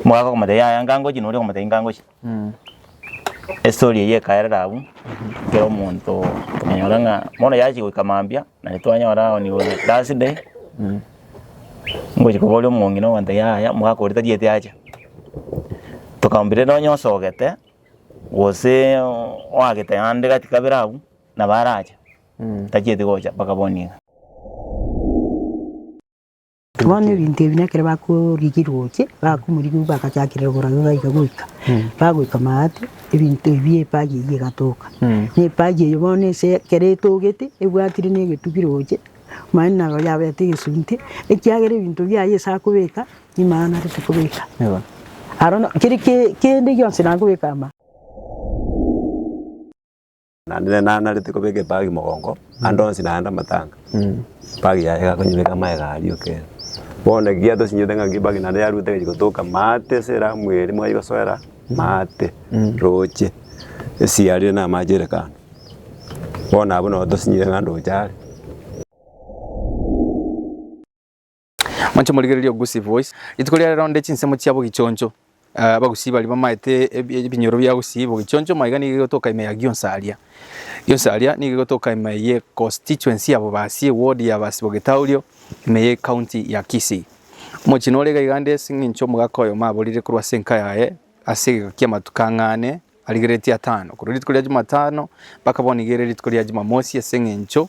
Omogaka akamotebia, Yaya, ngangochie, noria akamotebia, ngangochie. Estory eyio ekaerera abwo, kera omonto okanyora ng'a bono yachia goika mambia, naende twanyora on your last day, ngochia koboria omong'ina ogontebia, yaya, omogaka oria tarieti acha. Tokamwambia, renda onye osogete, gose oagete ande gati kabere abwo, nabo arache, tachieti gocha mpaka bono iga. Bono ebinto ebi nekero bakorigirwa oche, bakomorigigwa bagachakera oborabe baiga goika bagoika Maati, ebinto ebi epaji eyio egatoka. Na epaji eyio bono ase ekero etogete ebwatire na egetugi roche, mani naro yabete egesunte, ekiagera ebinto biaye ase akobeka nigo aye narete kobeka. Aro na keri ke- kende gionsi nakobeka ama. Naende ne nanarete kobeka ebagi mogongo, ande onsi naende amatanga, ebagi yaye iga akonyebeka amaega aria o kera. Bono eki giatosinyete ng'a nki ebagi naende yaruete egachia gotoka maate ase eramu eri mwaigosoera maate roche esiarire na amache ere kando. Bono abwo nabo tosinyire ng'a ndoche are. Moche morigererie ogogusia ebibois. Rituko ria rero onde chinsemo chia bogichoncho. Eh, abagusii baria bamaete ebi- ebinyoro bia gusii bogichoncho maiga nigo igotoka ime ya Gionsa aria. Gionsa aria nigo igotoka ime ye constituency ya Bobasi, ward ya Basi Bogetaurio, ime ye county ya Kisii. Omochie nore iga iga nde ase eng'encho omogaka oyomo aborire korwa ase enka yaye ase egeka kia amatuko ang'e ane arigeretie atano. Korwa rituko ria Jumatano mpaka bono iga ere rituko ria Jumamosi ase eng'encho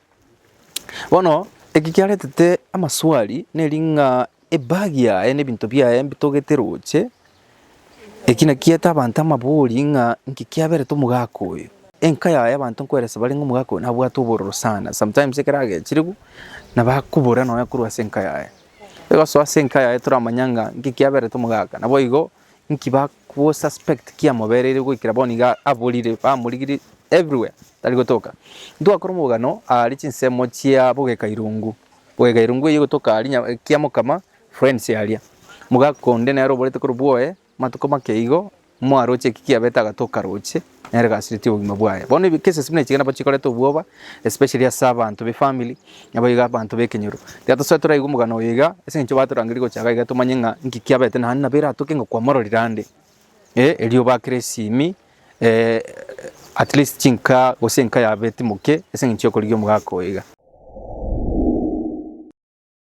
Bono eki kiaretete amaswali neri ng'a ebag yaye na ebinto biaye mbitogete roche, eki naki kiete abanto amabori ng'a inki kiaberete omogaka oyo. Enka yaye abanto nkoeresa bare ng'a omogaka oyo nabwate obororo sana, sometimes ekero agechirigwe nabo akobora nonya korwa ase enka yaye. Egosoa ase enka yaye toramanya ng'a inki kiaberete omogaka, naboigo. Inki bagosuspect kiamobereire goikera bono iga aborire, bamorigirie everywhere tari gotoka? Ntwakora omogano aare chinsemo chia bogeka irungu, bogeka irungu eye egotoka aria nya- kia mokama friends aria. Omogaka onde nere oborete korwa bwoye matuko make igo, mwaroche eki kiabete agatoka roche, Nere gasiretie obogima bwaye. Bono ebi cases buna ichiga nabo chikoreta obwoba especially ase abanto be family nabo iga abanto bekenyoro. Tiga tosoe toraigwe omogano oyo iga ase eng'encho batorangeria gocha iga iga tomanye ng'a inki kiabete naende nabo eratoke ng'a kwamororire ande eh erio obakere esimi at least chinka gose enka yago etimoke ase eng'encho yokorigia omogaka oyo iga.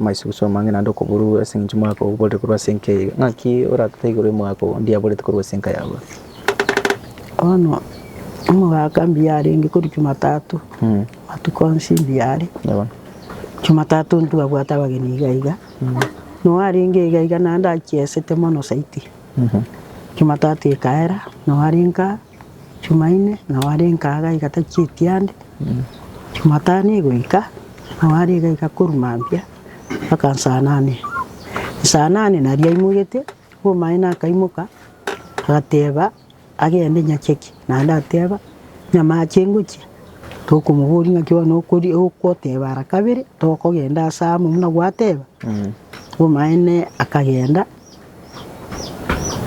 Amaisugusu amang'ina ande okobururwa ase eng'encho omogaka oo oborire korwa ase enka eyio. Ng'aki oratete igoro y'omogaka oo onde yaborete korwa ase enka yabo? Bono omogaka mbuya arenge korwa Jumatatu, matuko onsi mbuya are. Yabo. Jumatatu intwe twabwate abageni iga iga, na oyo arenge iga iga naende achiesete mono zaidi. Jumatatu ekaera, nabo arenka. Jumaine nao are enkaga iga tachieti ande, Jumatano egoika nao are iga iga korwa mambia mpaka saa nane. Saa nane nario aimogete, obomaene akaimoka agateba agende nyacheki, naende ateba nyamache ngochia, tokomoboria ng'aki bono okori okoteba ara kabere, tokogenda ase amo buna gwateba, obomaene akagenda.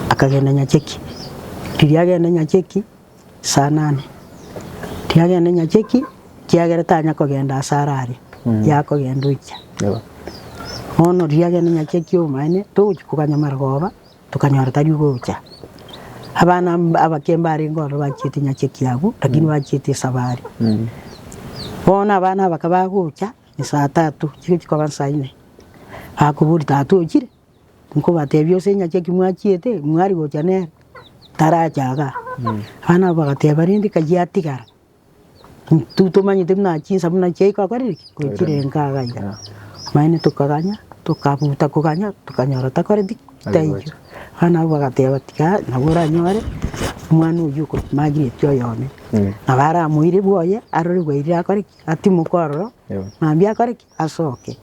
akagenda nyacheki, riria agenda nyacheki saa nane, riria agenda nyacheki ekiagera tanya kogenda ase arare, yakogenda oikia. Bono riria agenda nyacheki obomaene togochia koganyamera koba, tokanyora tari ogocha. Abana mb- abake mbarenge ororo bachiete nyacheki abwo, lakini bachiete esabari. Bono abana abake bagocha, esaa tatu chigochia koba nsaa ine, bakobori tata ochire? Nkobatebia ase engaki eki mwachiete, mwari gocha nere, tarache iga. Abana abwo bagateba, rende kayio atigara, intwe tomanyete buna chinsa buna chiaikire gokorire ki? Gochirenga iga iga. Naende tokaganya, tokabuta koganya, tokanyora takoreti ki? Taiyo. Abana abwo bagateba, tiga nabo oranyore omwana oyio oko Margaret oyone. Nabo aramoire bwoye, arore bwairire akore ki? Atimoke ororo, mambia akore ki? Asoke.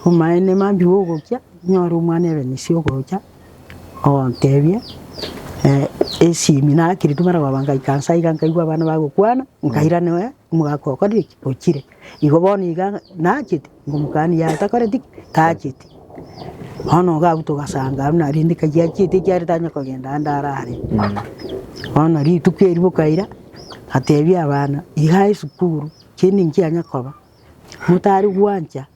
Omaene mambi gogokia nyore omwana ebe nisi ogocha ogotebie esimi nakiri timara goba ngaika nsa iga nkaigwa abana bagokwana nkairanewe omogaka okorire eki ochire igo bono iga nachete ngomokani yaye takoreti ki tacheti bono iga abwo togasanga abwo narende kai achiete ekiagera tanya kogenda ande arare bono rituko eri bokaira atebia abana iga esukuru chinde nkianya koba. motari gwancha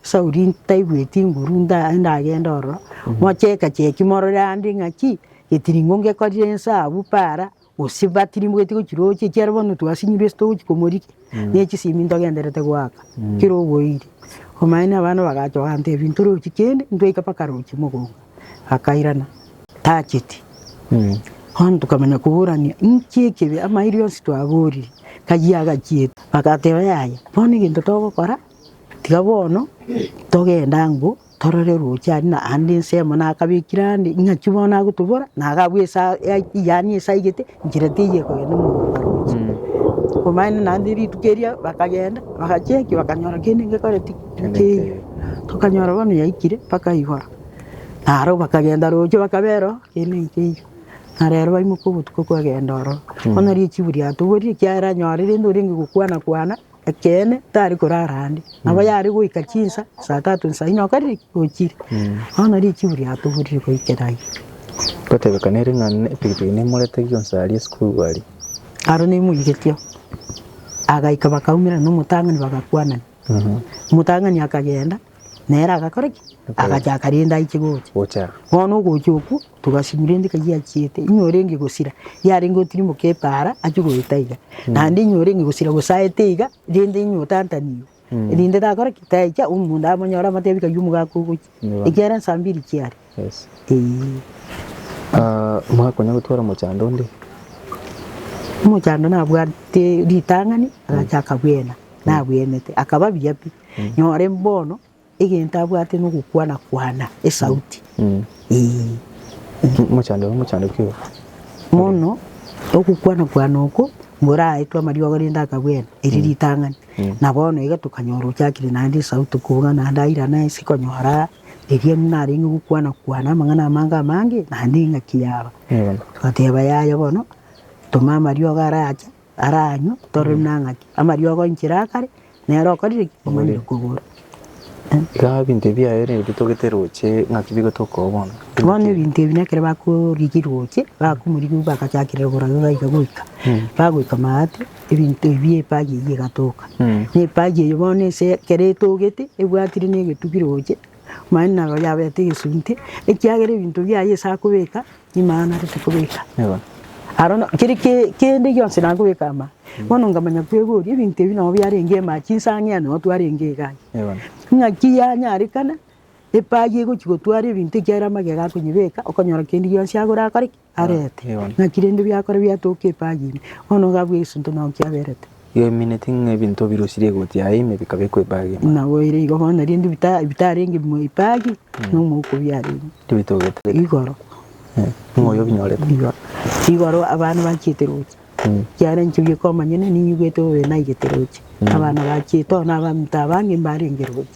Sauli ntaigweti nguru ndagende ororo, moche egecheki morore ande ng'aki getiringo ngekorire esabu para gose batirimogeti gochiroche ekiagera bono twasinyirwe ase togochi komorigia ne chisimi ntogenderete goaka kera oboiire. Omaene abana bagacha bagantebia ntorochi kende ntwaika mpaka roche mogoka. akairana, tacheti. Bono tokamanya koborania inki ekibe, amairie onsi twaborire, kayio agachiete. Agateba, Yaya, bono egento togokora, tiga bono togende ang'o, torore roche aria na ande ensemo nakabekire ande, ing'aki bono agotobora, na agabua esaa yaani esaa igete, nchera teiyo ekogenda omogoko roche. Omaene naende rituko erio bakagenda, bagachia ki? bakanyora kende gekoreti keiyo. Tokanyora bono yaikire mpaka igoro. Naro bakagenda roche bakabera oo kegeni nkeiyo, na rero baimoke obotuko kwagenda ororo. Bono riria echibu riatoborire ekiagera nyore rende orenge gokwana kwana ekeene tari korara ande. Nabo yare goika chinsa saa tatu nsa inye okare ki? Ochire. Bono richibu riatoborire goikera ayio. Gotebekana ere ng'a ne epikipiki nemorete gionsi aria esukuru aria. Aro nemoigetie oo. Agaika bakaumerana na omotang'ani bagakwanania. Omotang'ani akagenda. nere agakora ki? Agacha akarenda aiche gocha. Bono ogocha okwo togasinywa rende ka giachiete, nigo orenge gosira yarenge otirimoke epaara achie goeta iga, naende nigo orenge gosira gose aete iga rende nigo otantanigwe rende takore ki? Taicha omonto amonyore amotebi kaiya omogaka ogochia ekiagera nsa mbiri chiaria. Mwakonya gotwara omochando onde? Omochando nabwate ritang'ani, agacha akabwena, nabwenete, akaba buya pi. Nore bono egento abwate na ogokwana kwana esauti. Omochando oyo omochando ki oyo? Bono ogokwana kwana oko moraetwe amariogo rende akabwena erio ritang'ani. Na bono iga tokanyora ochakire naende esauti kobuga naende airana ense konyora Ekiagera narenge gokwana-kwana amang'ana amange amange, naende eng'aki yaba. Togateba yaya bono, toma amariogo arache, aranywe, torore buna ng'aki. Amariogo inchera akare, nere okorire ki? Omanyire kogora. Iga ebinto ebi biaye nigo bitogete roche ng'aki bigotoka oo bono. Bono ebinto ebi nekero bakorigia roche, bakomorigia bagachakire rogoro iga goika, bagoika maate, ebinto ebi epaji eyio egatoka. Na epaji eyio bono ase ekero etogete ebwatire na egetugiro gocha mani nabo yabete egesunte ekiagera ebinto biaye ase akobeka nimaanarete kobeka. Aro na keri ke- kende gionsi nakobeka ama. Bono nkamanya kwegoria ebinto ebi nabo biarenge ema chinsa ang'e ande nabo twarenge iga aiga. Ng'aki yanyarekana epaji egochi gotwara ebinto ekiagera magega akonyebeka okonyora kende gionsi agore akore ki? arete, ng'aki rende biakora biatoka epagi ime, bono iga abwo egesunte nao kiaberete. Iga emineti ng'a ebinto birosirie egoti yaye ime bikabekwa epagi ime. Naboire igo bono nario inde bita- bitarenge bimwe epagi, na omouko biarenge Tibitogete. igoro. Eh, Ng'a oyo obinyorete. Igoro, igoro abana bachiete roche, Mm. ekiagera inche bioka omonyene ninyigwete bobe naigete roche, abana bachiete, bono abaminto abange mbarenge roche.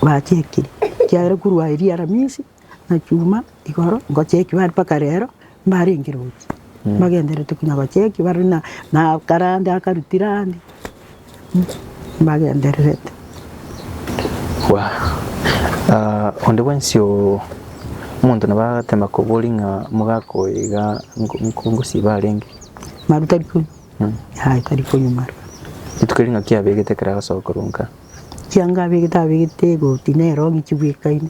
Bachekire, ekiagera korwa aye riaramisi na chuma igoro ngochekigwa are mpaka rero mbarenge roche mbagendererete konya gochekigwa bare na akarande akarutire ande. mbagendererete. Bwa, ah, onde bwensi o, omonto nabo agatema koboria ng'a omogaka oyo iga nko- nko- nkosiba arenge. Maru tari konywa. Mm. Aye tari konywa maru. Rituko erio ng'aki abegete ekero agasoa korwa nka. Chianga abegete abegete egoti nero ng'iki bwekaine.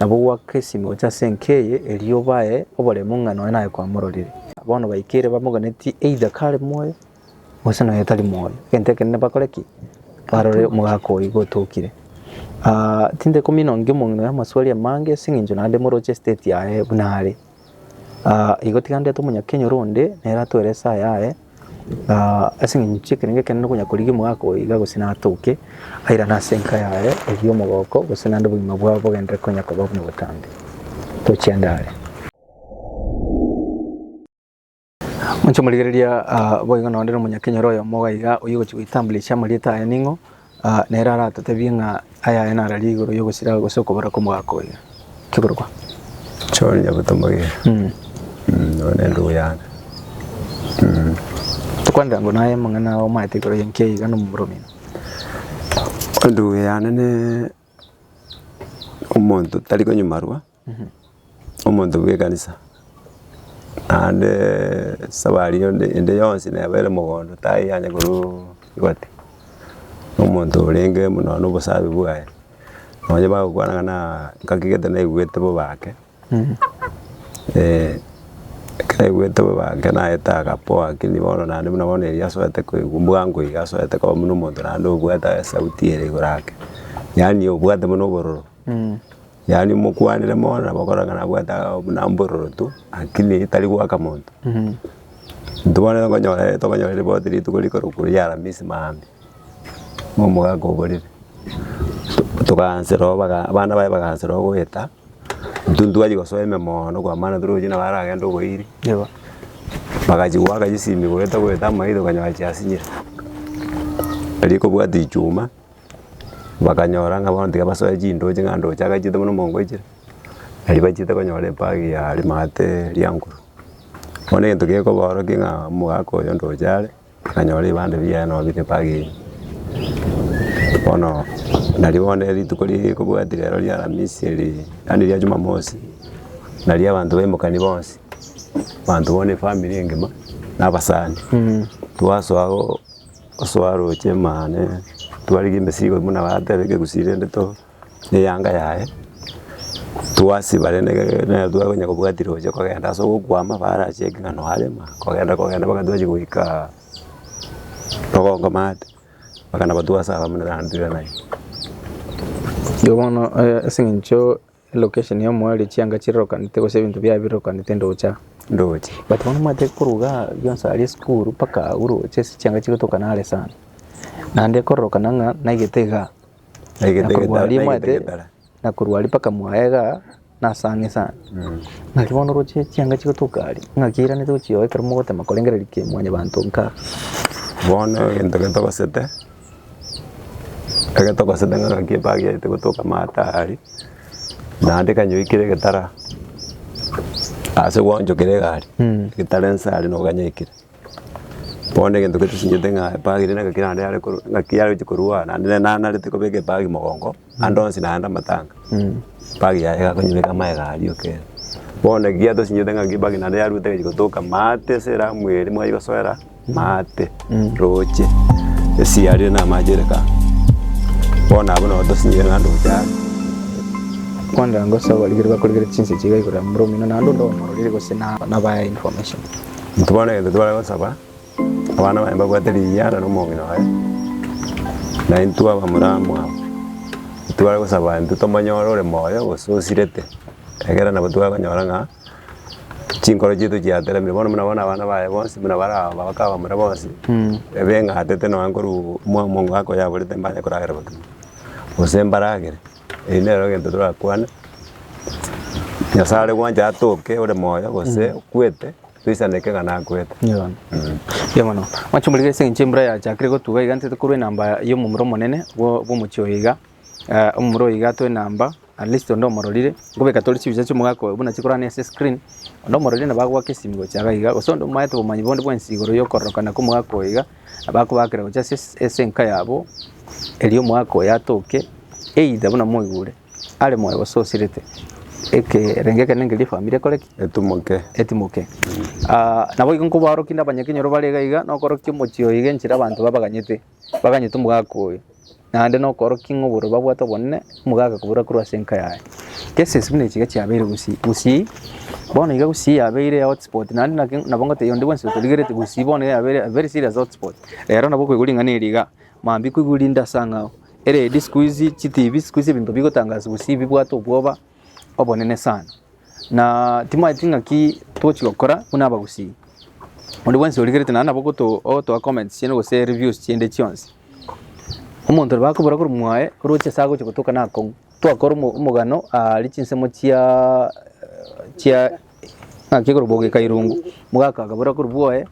Nabo gwakesime gocha ase enka eye, erio bae oboremu ng'a nonya naye kwamororire. Bono baikeire bamoganetie either kare moyo, gose nonya tari moyo. Egento ekenene bakore ki? Barore omogaka oyio gotokire. Aah, tinde komina onge omong'ina oyo amaswali amange ase eng'encho naende moroche estate yaye buna are. Igo tiga ndete omonyakenyoro onde nere atore esaa yaye ase eng'encho chi'ekerengo ekenene konya korigia omogaka oyo iga gose natoke airane ase enka yaye erio omogoko gose naende obogima bwabo bogenderere konya koba buna obotambe. Tochia ndare. Inche omorigereria ah, boigo nonde nomonyakenyoro oyomo iga iga oyio ogochi goitambulisha amarieta aye ning'o ah, nere aratotebie ng'a ayaye nararia igoro yogosira gose okobora kw'omogaka oyo kiborokwa John Nyabuto Mogire. Mm. Mm, one ndugu yane. Mm. tokwanera ngo naye amang'ana omaete igoro yenki iga nomoromino Ndugu yane ne omonto tari konyimarwa Omonto bw'ekanisa, naende esabari onde ende yonsi nebaere mogondo tayanye korwa egati, na omonto orenge buna na obosabe bwaye, nonye bagokwana ng'a naa ngaki gete naigwete bobe ake, eke naigwete bobe ake naete agapoa lakini bono naende buna bono erio asoete koigwa bwango iga asoete koba buna omonto naende obwate esauti ere igoro ake, yaani obwate buna obororo. Yaani mokwanire mono nabo okorora ng'a nabwate aah buna mbororoto, akili etari goaka monto. Intwe bono tokonyora tokonyora ripoti rituko rikorokwa ria aramisi maambia, buna omogaka oborire tokaanse rogo baga abana baye bagaanse rogo goeta, intwe ntitwachia gosoa ime moono kwamana tore gochia nabo aragende oboiri, bagachia goaka chisimi goeta goeta amairo okonyora chiasinyire, erio ekobwati chuma. bakanyora ng'a bono tiga basoe chindooche ng'a ndooche agachete buna omonko oichire, nari bachete konyora empagi ya rimate ria nkuru. Bono egento gekobaorokia ng'a omogaka oyo ndooche are, akanyora ebibande biaye nabo bire empagi eywo. Bono nari bono rituko rikobwati rero ria aramisi eri, yaani ria jumamosi, nari abanto baimokani bonsi, abanto bono efamiri engima, na abasani, twasoa. Osoa roche mane twarige emesigo imwe nabo atebe egegusi rende to eyanga yaye, twasiba rende nere twakonya kobwati roche kogenda ase ogokwama bare acheke ng'a noyo arema kogenda kogenda mpaka twachia goika Rogongo maate, mpaka nabo twasaba buna nere atwire naye. Igo bono ase eng'encho. Location ya omwao ere chianga chirokanete gose ebinto biaye birokanete ndocha. Ndoche. But bono omanyete korwa igaa rionsi aria esukuru mpaka agwo roche ase chianga chigotoka nare sana. Naende ekororokana ng'a naigete igaa. Naigete Na korwa aria omanyete naigete getara. na korwa aria mpaka mwaye igaa nase ang'e sana. Naki bono oroche chianga chigotoka aria ng'aki eiranete gochia oo ekero mogotema korengereria ki mwanyabanto nkaa. Bono egento getogosete. Ekero togosenda ng'a gaki epaaka yaitu gotoka amato aya aria, naende ekanyora ekero egetara ase gwanchokera egari, egetara ense aria nigo ganyaikire. Bono egento getosinyete ng'a epaaka eria naki naende yare korwa naki yare gochia korwa aa naende nere nanarete kobeka epaaka mogongo. Ande onsi naende amatanga, empagi yaye egakonyebeka amaega aria okere. Bono eki giatosinyorete ng'a nki empagi naende yaruete egachia gotoka maate ase eramu eria mwachia gosoera maate roche ase yarire na amache ere kando. Bono abwo nabo tosinyorete ng'a ande ogocha are. Kwanda ngosa abarigeria bakorigereria chinseche iga igoro ya momura omino naende onde omororire gose na- nabae information. Intwe bono egento tibare gosaba. Abana baye mbabwate ring'ana nomong'ina oye, na intwe abamuramu aba, intibare gosaba intwe tomonyore ore moyo gose osirete, ekeera nabo twakonyora ng'a chinkoro chiaito chiateremire. Bono buna bono abana baye bonsi buna bare aba abake abamura bonsi, ebeng'atete nonya korwa mwamongo akoyaborete mbare koragera botuko, gose mbaragere, erio nero egento torakwane, Nyasae are gwancha atoke ore moyo gose okwete. toisaneke ng'a nakwete. Mbuya mono. Mwanche omorikere ase eng'encho embura yachakire gotuba iga ntete korwa enamba y'omomura omonene bwo- bw'omochie oyo iga. Eh, omomura oyo iga atoe enamba, at least onde omororire, nkobeka tore chibicha chi'omogaka oyo buna chikorana ase escreen, onde omororire nabo agoaka esimi gochia iga iga, gose onde omoete obomanyi bonde bwensi igoro y'okororokana kw'omogaka oyo iga, nabo akobaakera gochia ase es- ase enka yabo, erio omogaka oyo atoke either buna moigure. Are moyo gose osirete, ekerengo ekenene keria efamiri ekore ki? Etimoke. etimoke. Ah, naboigo nkobaorokia inde abanyakenyoro bare iga iga, nokorokia omochie oyo iga enchera abanto babaganyete, baganyete omogaka oyo, naende nokorokia ng'a obororo babwate obonene, omogaka koburora korwa ase enka yaye. Kesi ase buna echi iga chiabeire gusii gusii, bono iga gusii yabeire eye hotspot, naende naki nabo ngotebiwa onde bwensi otorigereti gusii bono iga yabeire a very serious hotspot. Rero nabo okoigwa ring'ana eri iga. Mambia koigwa rinde ase ang'ao. Eredi sikuizi chitibi sikuizi ebinto bigotangaswa gose bibwate obwoba obonene sana. Na timanyeti ng'aki tochi gokora buna abagusii. Onde bwensi origerete naende nabo ogoto- ogotoa comments chiane gose reviews chiende chionsi. Omonto ore bakobora korwa mwaye oroche ase agochia gotoka nakong'u. Twakora omo- omogano aria chinsemo chiaa chia ng'aki korwa bogeka irungu. Mogaka akabora korwa bwoye.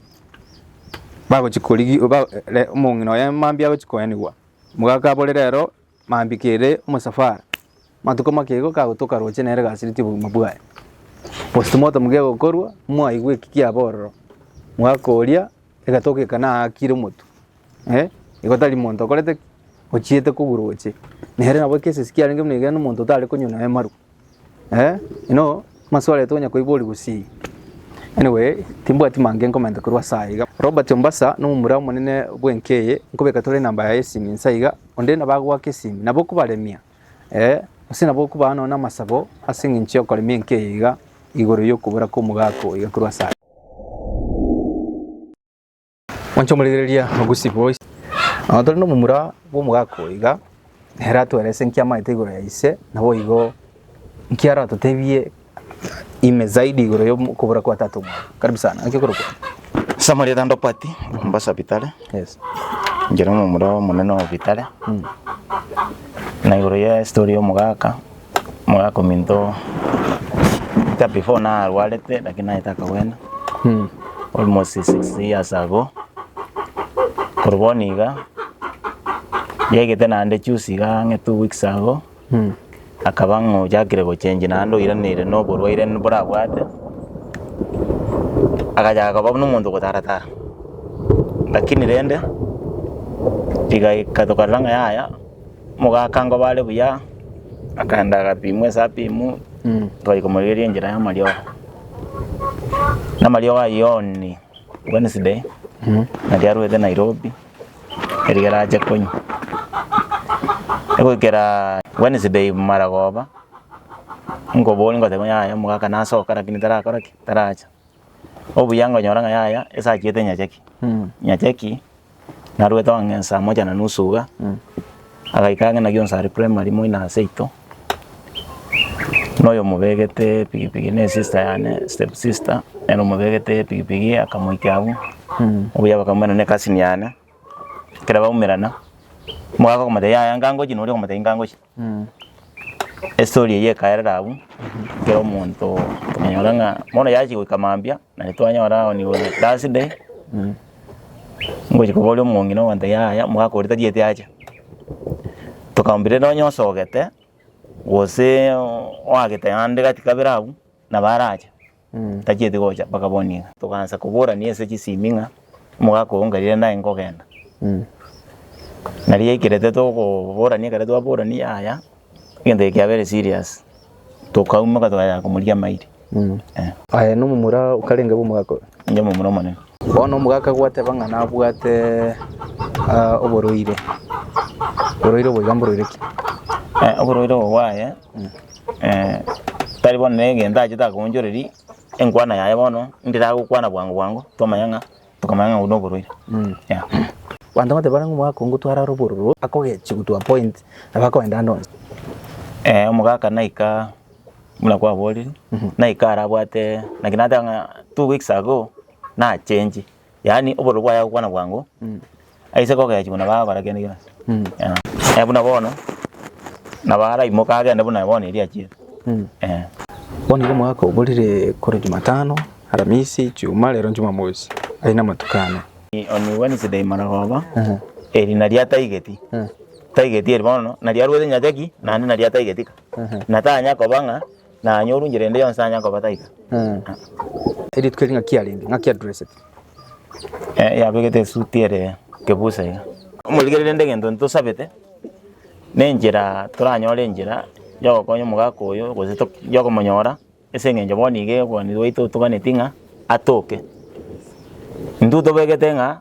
Bagochia korigi ba re omong'ina oye mambia agochia koenigwa, omogaka abore rero mambia kere omosafari, matuko makiigo kagotoka roche nere gasireti obogima bwaye. Postmortem kegokorwa, mwaigwa eki kiaborerwa, omogaka oria egatoka eka naakire omotwe, Igo tari monto okorete ki? Ochiete kogura oche. Nere nabo ekero esesi kiarenge buna ekiagera nomonto otare konywa nonya marwa. Inoo amasuo areta onya koiboria gusii. Anyway timbwati mange nkomenta korwa ase aiga. Robert Ombasa na omomura omonene bw'enka eye nkobeka tore enamba yaye y'esimi inse aiga, onde nabo agoaka esimi nabo okobaremia gose nabo okobaa nonya namasabo ase eng'encho y'okoremia enka eye iga igoro y'okobora kw'omogaka oiga korwa ase aiga. Mwanche omorigereria Ogusi boys. Onye tore nomomura bw'omogaka oyo iga, ere atwerese nki amaete igoro ya ise, naboigo nki aratotebie ime zaidi igoro y'okobora kwa tata omwabo. Karibu sana. Naki okorokwa? Ase amarieta ndopati Mombasa Bitare, Yes. inche nomomura omonene o Bitare, na igoro ye story y'omogaka. Mogakominto ta before narwarete lakini naete akagwena almost six years ago, korwa bono iga yegete naende juzi iga ang'e two weeks ago akaba ng'a ochakire gochengi naende oiraneire na oborwaire mborabwate, agachaka koba buna omonto ogotara tara, lakini rende rigaika tokarora ng'a yaya. Mogaaka ngoba are buya, akaenda agapimwa esapimu, twachia komorigereria enchera y'amariogo. Na amariogo ayio only Wednesday, nario arwete Nairobi, eriga arache konywa. Egoikera Wednesday maragoba, nkoboria nkotebi ng'a yaya omogaaka nasoka lakini tarakora ki? Taracha. Obuya nkonyora ng'a yaya esachiete nyachaki, nyachaki narwete ong'a ng'a saa moja na nusu iga, agaika ang'e naki onsi are primary moino ase ito, na oyomobegete epigipigi ne sister yane, step sister, ere omobegete epigipigi akamoikia agwo, obuya bakaumana ne cousin yane, ekero baumerana, mogaka komotebia yaya nkangochie na oria okomotebia nkangochie. Estori eyio ekaerera abwo, kera omonto okanyora ng'a bono yachia goika mambia, na nitwanyora on your last day ngochia koboria omong'ina ogoteba yaya omogaka oria tarieti acha, tokamwambia rero onye osogete gose oagete naende gati kabere abwo nabo arache. tachieti gocha mpaka bono iga. Togaancha koborania ase chisimi ng'a omogaka oo nkarire naye nkogenda. Nari ekero tokoborania ekero twaborania yaya egento eke kiabere serious tokaumeka tokaya komorigia amairi. Aye nomomura okarenge bw'omogaka oyo? Inche omomura omonene. Bono omogaka gwateba ng'a nabwate oborwaire, oborwaire obo iga mborwaire ki? Oborwaire obo bwaye. Tari bono negento achete akoonchoreria enkwana yaye bono ndiragokwana bwango bwango twamanya ng'a tokamanya ng'a oyo noborwaire yeah. Abanto bateba ng'a omogaka oo ngotware are obororo akogechigwa to a point nabo akoenda ande onsi. Omogaka naika buna kwaborire naika arabwate naki nateba ng'a two weeks ago nachenchie. Yaani obororo bwaye agokwana bwango, aise kogechi buna baba barakende kera ase. Eh, buna bono, nabo araimoke agende buna bono erio achiete. Eh. Bono igo omwaka oborire kore Jumatano, Aramisi, Ijumaa, rero Jumamosi, aye namatuko ane. On Wednesday marogoba, eri nario ataigeti, taigeti eri bono, nario arwete nyachaki, naende nario ataigeti ka. Natanya koba ng'a. Nanye orunche rende yonsi tanyara kobata iga. Eritwe eri ng'aki arenge? Ng'aki adresete? Eh, yabegete esuti ere kebusa iga. Omorigereria rende egento ntosabete, nenchera toranyore enchera yogokonya omogaka oyo gose tok yokomonyora, ase eng'encho bono iga obwaneri bwaito otoganeti ng'a atoke. Intwe tobegete ng'a.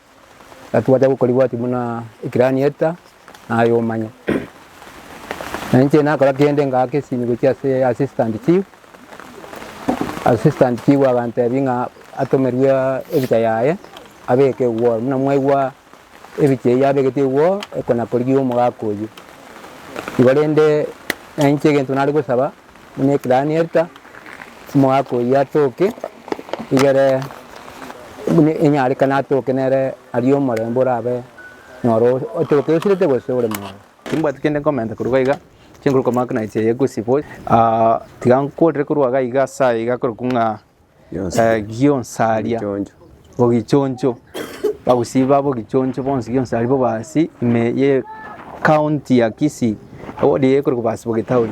Naki gwacha gokorigwati buna ekirani eta naye omanye. Na inche nakora kende ngaaka esimi gochia ase assistant chief, assistant chief agantebia ng'a atomerwe ebicha yaye abeke igoro. Buna mwaigwa ebicha eyio abegete igoro ekona korigia omogaka oyio. Igo rende na inche egento nare gosaba. buna ekilaani erita, omogaka oyio atoke igere buna enyarekane atoke nere aria omorembe orabe noro otoke osirete gose ore moyo. Timbwati kende nkomenta korwa iga, chinguru koma buna echi eye gose boys. Ah, tiga nkorire korwa iga iga ase aya iga korokwa ng'a eh, gionsaria ogichoncho, abagusii babo ogichoncho bonsi gionsi aria bobaasi ime ye county ya Kisii, ward eye ekorokwa Baasi-Bogitauri.